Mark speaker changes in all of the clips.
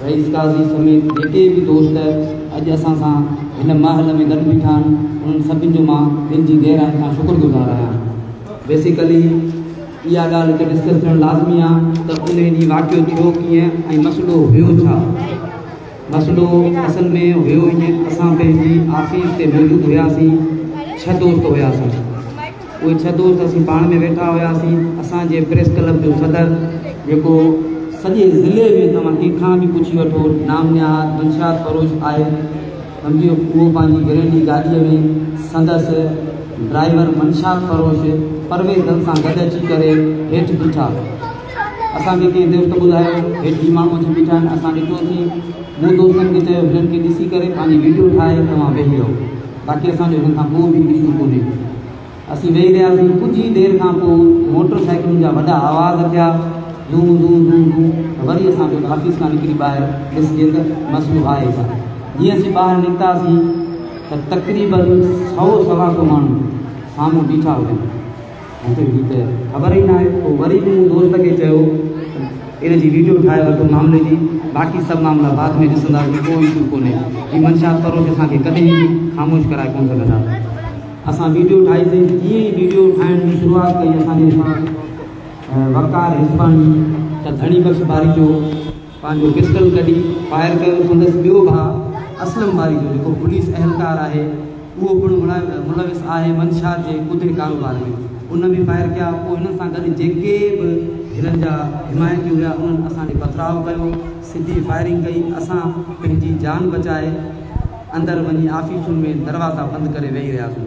Speaker 1: رئيس قاضي سميت جيڪي به دوست اڄ اسان سان هن مهل ۾ گڏ بيٺا آهن انهن سڀن جو مان دل جي گهرائين کان شڪر گذار آهيان. بيسيڪلي اها ڳالهه هتي ڊسڪس ٿيڻ لازمي آهي ته ان ڏينهن واقعو ٿيو ڪيئن ۽ مسئلو هيو ڇا؟ مسئلو اصل ۾ هيو ائين اسان پنهنجي آفيس تي موجود هياسين ڇهه دوست هياسين. اهي ڇهه دوست اسين پاڻ ۾ ويٺا هياسين. اسان جي پريس ڪلب جو صدر جيڪو سڄي ضلعي ۾ توهان ڪنهن کان به پڇي وٺو نام نهاد منشيات فروش آهي سمجهي اهو پنهنجي گرينڊي گاڏي ۾ سندس ڊرائيور منشيات فروش پرويز دل سان گڏ اچي ڪري هيٺ بيٺا اسان کي ڪنهن دوست ٻڌايو هيٺ هي ماڻهو اچي بيٺا آهن اسان ڏٺوسين مون دوستن کي چيو هنن کي ڏسي ڪري پنهنجي ويڊيو ٺاهي توهان ويهي رهو. باقي اسان جو هن کان ڪو به ايشو ڪونهي. اسين ويهي رهياسين، ڪجهه ئي دير کان پوء موٽر سائيڪلن جا وڏا آواز ٿيا، زون زون زون زون ته وري اسان به آفيس کان نڪري ٻاهر ڏسجي ته مسئلو آهي ڇا. جيئن اسين ٻاهر نڪتاسين ته تقريبن سؤ سوا سؤ ماڻهو سامهون بيٺا هجن. مونکي ھي ته خبر ئي ناھي پوء وري به مون دوست کي چيو ته ان جي ويڊيو ٺاھي وٺ معاملي جي باقي سڀ معاملا بعد ۾ ڏسنداسين ڪو ايشو ڪونھي ھي منشيات فروش اسان کي ڪڏھن به خاموش ڪرائي ڪون سگھندا اسان ويڊيو ٺاھي سين جيئن ئي ويڊيو ٺاھڻ جي شروعات ڪئي اسان جي وقار حسباڻي ته ڌڻي بخش باري جو پنهنجو پسٽل ڪڍي فائر ڪيو، سندس ٻيو ڀاء اسلم باري جو جيڪو پوليس اهلڪار آهي اهو پڻ ملوث آهي منشيات جي ڪوڌي ڪاروبار ۾ ان به فائر ڪيا، پوء هنن سان گڏ جيڪي به هنن جا حمايتي هيا انهن اسان ڏي پٿراء ڪيو، سڌي فائرنگ ڪئي، اسان پنهنجي جان بچائي اندر وڃي آفيسن ۾ دروازا بند ڪري ويهي رهياسون.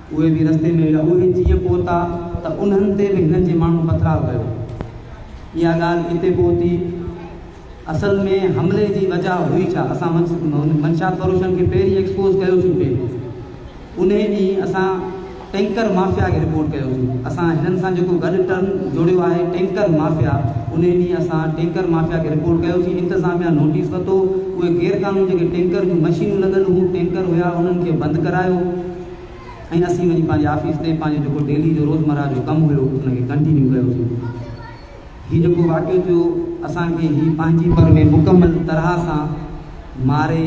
Speaker 1: اهي به رستي ۾ هيا. اهي جيئن پهتا ته انهن تي به هنن جي ماڻهن پٿراء ڪيو. اها ڳالهه اتي پهتي. اصل ۾ حملي جي وجهه هئي ڇا؟ اسان منشيات فروشن کي پهرين ايڪسپوز ڪيوسين پي. انهي ڏينهن اسان ٽينڪر مافيا کي رپورٽ ڪيوسين. اسان هنن سان جيڪو گڏ ٽرم جوڙيو آهي ٽينڪر مافيا، انهي ڏينهن اسان ٽينڪر مافيا کي رپورٽ ڪيوسين. انتظاميا نوٽيس وتو. اهي غيرقانوني جيڪي ٽينڪر جون مشينون لڳل هيون، ٽينڪر هيا، انهن کي بند ڪرايو. ۽ اسين وڃي پنهنجي آفيس تي پنهنجو جيڪو ڊيلي جو روزمره جو ڪم هيو ان کي ڪنٽينيو ڪيوسين. هي جيڪو واقعو ٿيو اسان کي هي پنهنجي پر ۾ مڪمل طرح سان ماري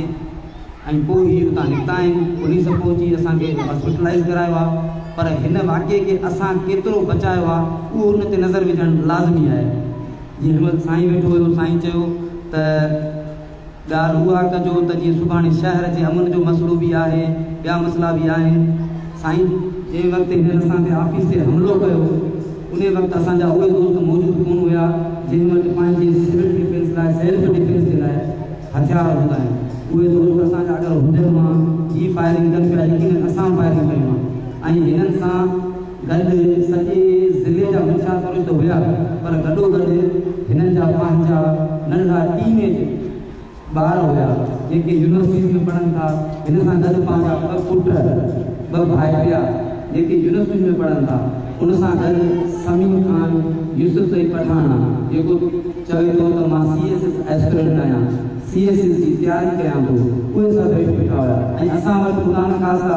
Speaker 1: ۽ پوء هي اتان نڪتا آهن پوليس پهچي اسان کي هاسپيٽلائيز ڪرايو آ پر هن واقعي کي اسان ڪيترو بچايو آ اهو ان تي نظر وجهڻ لازمي آهي جي هن وقت سائين ويٺو هيو سائين چيو ته ڳالهه اها ڪجو ته جيئن سڀاڻي شهر جي امن جو مسئلو به آهي، ٻيا مسئلا به آهن. سائين! جنهن وقت هنن اسان تي آفيس تي حملو ڪيو، انهي وقت اسان جا اهي دوست موجود ڪونه هيا، جنهن وٽ پنهنجي سول ڊفينس لاء، سيلف ڊفينس جي لاء هٿيار هوندا آهن. اهي دوست اسان جا اگر هجن ها، هي فائرنگ ڪن پيا، يقينن اسان فائرنگ ڪيون ها ۽ هنن سان، گڏ سڄي ضلعي جا منشيات پرست ته هيا پر گڏوگڏ هنن جا پنهنجا ننڍڙا ٽين ايج ٻار هيا جيڪي يونيورسٽيز ۾ پڙهن ٿا هن سان گڏ پنهنجا ٻه پٽ ٻه ڀائٽيا جيڪي يونيورسٽيز ۾ پڙهن ٿا ان سان گڏ سميم خان يوسف زئي پٺاڻ جيڪو چوي ٿو ته مان سي ايس ايس ايسپرنٽ آهيان سي ايس ايس جي تياري ڪيان ٿو اهي سڀ هيٺ بيٺا هيا ۽ اسان وٽ خدا نخواسته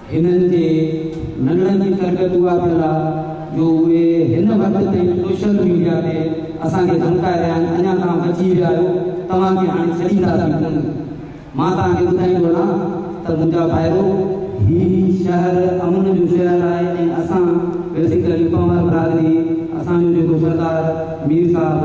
Speaker 1: هنن جي ننڙن جي تربيت اها ٿيل آ جو اهي هن وقت تائين سوشل ميڊيا تي اسان کي ڌمڪائي رهيا آهن اڃا توهان بچي ويا آهيو توهان کي هاڻي ڇڏينداسين ڪونه مان توهان کي ٻڌائيندو هلان ته منهنجا ڀائرو هي شهر امن جو شهر آهي ۽ اسان بيسيڪلي پنهور برادري اسان جو جيڪو سردار مير صاحب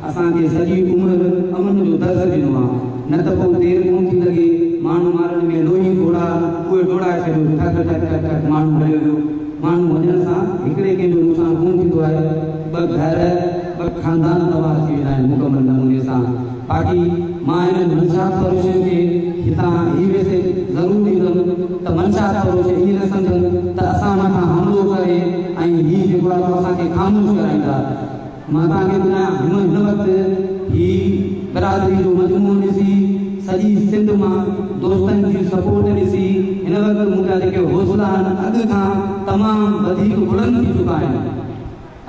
Speaker 1: اسان کي سڄي عمر امن جو درس ڏنو آ نه ته پوء دير ڪون ٿي لڳي ماڻهو مارڻ ۾ لوهي ڊوڙا اهي ڊوڙائي ڇڏيو ٺڪ ٺڪ ٺڪ ٺڪ ماڻهو مريو ويو ماڻهو وڃڻ سان هڪڙي ڪنهن جو نقصان ڪون ٿيندو آهي ٻه گهر ٻه خاندان تباهه ٿي ويندا آهن مڪمل نموني سان باقي مان هنن منشيات فروشن کي هتان هي ميسيج ضرور ڏيندم ته منشيات فروش ائين نه سمجهن ته اسان مٿان حملو ڪري ۽ هي جيڪو آهي سو اسان کي خاموش ڪرائيندا. مان توهان کي ٻڌايان هن هن وقت هي برادري جو مجموعو ڏسي سڄي سنڌ مان دوستن جي سپورٽ ڏسي هن وقت مون جا جيڪي حوصلا آهن اڳ کان تمام وڌيڪ بلند ٿي چڪا آهن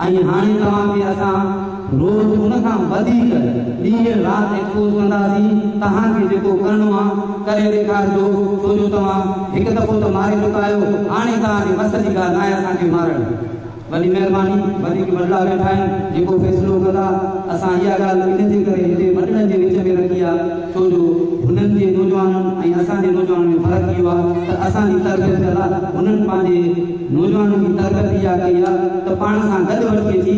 Speaker 1: ۽ هاڻي توهان کي اسان روز ان کان وڌيڪ ڏينهن رات ايڪسپوز ڪنداسين توهان کي جيڪو ڪرڻو آهي ڪري ڏيکارجو ڇو جو توهان هڪ دفعو ته ماري چڪا آهيو هاڻي توهان جي وس جي ڳالهه ناهي اسان کي مارڻ. وڏي مهرباني وڌيڪ وڏڙا ويٺا آهن جيڪو فيصلو ڪندا اسان اها ڳالهه انهي جي ڪري هتي وڏڙن جي وچ ۾ رکي آ ڇو جو هنن جي نوجوانن ۽ اسان جي نوجوانن ۾ فرق اهو آ ته اسان جي تربيت ڪندا هنن پنهنجي نوجوانن جي تربيت اها ڪئي آ ته پاڻ سان گڏ وٺي اچي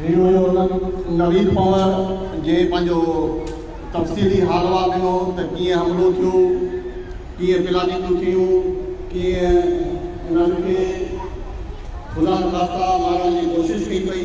Speaker 2: هي هيو نويد پنور جي پنهنجو تفصيلي حالوال ڏنو ته ڪيئن حملو ٿيو، ڪيئن پلاڳيتون ٿيون، ڪيئن انهن کي خدانخواسته مارڻ جي ڪوشش ڪئي پئي.